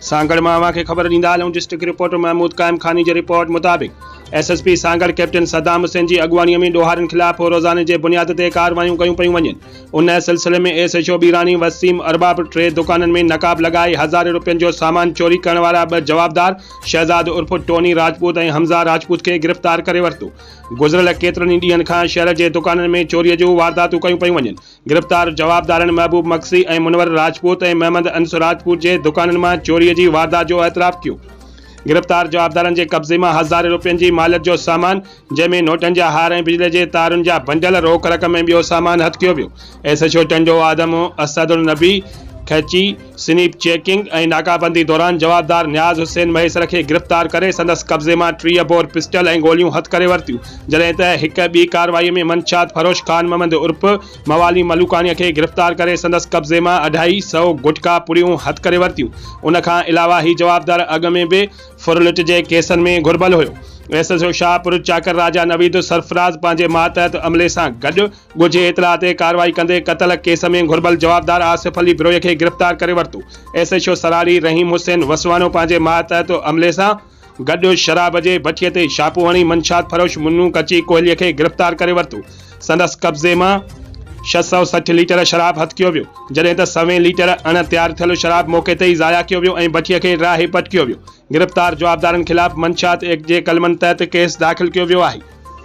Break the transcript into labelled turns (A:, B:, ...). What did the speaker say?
A: سانگهڙ مان اوهان کي خبر ڏيندا هلون ڊسٽرڪٽ رپورٽر محمود قائم خاني جي رپورٽ مطابق S S P Sanghar captain Saddam Hussain جي اڳواڻي ۾ ڏوهارين خلاف هو روزاني جي بنياد تي ڪارروايون ڪيون پيون وڃن ان سلسلي ۾ S H O Bhirani Waseem Arbab ٽي دڪانن ۾ نقاب لڳائي هزارين روپين جو سامان چوري ڪرڻ وارا ٻه جوابدار شهزاد عرف ٽوني راجپوت ۽ حمزه راجپوت کي گرفتار ڪري ورتو گذريل ڪيترن ئي ڏينهن کان شهر جي دڪانن ۾ چوري جون وارداتون ڪيون پيون وڃن گرفتار جوابدارن محبوب مگسي ۽ منور راجپوت ۽ محمد انس راجپوت جي دڪانن مان چوري جي واردات جو اعتراف ڪيو. گرفتار جوابدارن جي قبضي مان هزارين روپين جي ماليت جو سامان جنهن ۾ نوٽن جا هار ۽ بجلي جي تارن جا بنڊل، روڪ رقم ۽ ٻيو سامان هٿ ڪيو ويو. S H O Tando Adam Asad Alnabi Khichi, snap checking ۽ ناڪابندي دوران جوابدار نياز حسين مهيسر کي گرفتار ڪري سندس قبضي مان ٽيهه بور پسٽل ۽ گوليون هٿ ڪري ورتيون جڏهن ته هڪ ٻي ڪارروائي ۾ منشيات فروش خان محمد عرف موالي ملوڪاڻي کي گرفتار ڪري سندس قبضي مان اڍائي سئو گٽڪا پڙيون هٿ ڪري ورتيون ان کان علاوه هي جوابدار اڳ ۾ به ڦرلٽ جي ڪيسن ۾ گهربل هيو S H O Shahpur Chakar Raja Naveed Sarfraz پنهنجي ماتحت عملي سان گڏ ڳجهي اطلاع تي ڪارروائي ڪندي قتل ڪيس ۾ گهربل جوابدار آصف علي بروهي کي گرفتار ڪري ورتو، S H O Sarari Rahim حسين وسواڻو پنهنجي ماتحت عملي سان گڏ شراب جي ڀٺي تي ڇاپو هڻي منشيات فروش منو ڪچي ڪوهلي کي گرفتار ڪري ورتو، سندس قبضي مان ڇهه سؤ سٺ ليٽر شراب هٿ ڪيو ويو، جڏهن ته سوين ليٽر اڻ تيار ٿيل شراب موقعي تي ئي ضايع ڪيو ويو ۽ ڀٺي کي راهي پٽ ڪيو ويو، گرفتار جوابدارن خلاف منشيات ايڪٽ جي قلمن تحت ڪيس داخل ڪيو ويو آهي.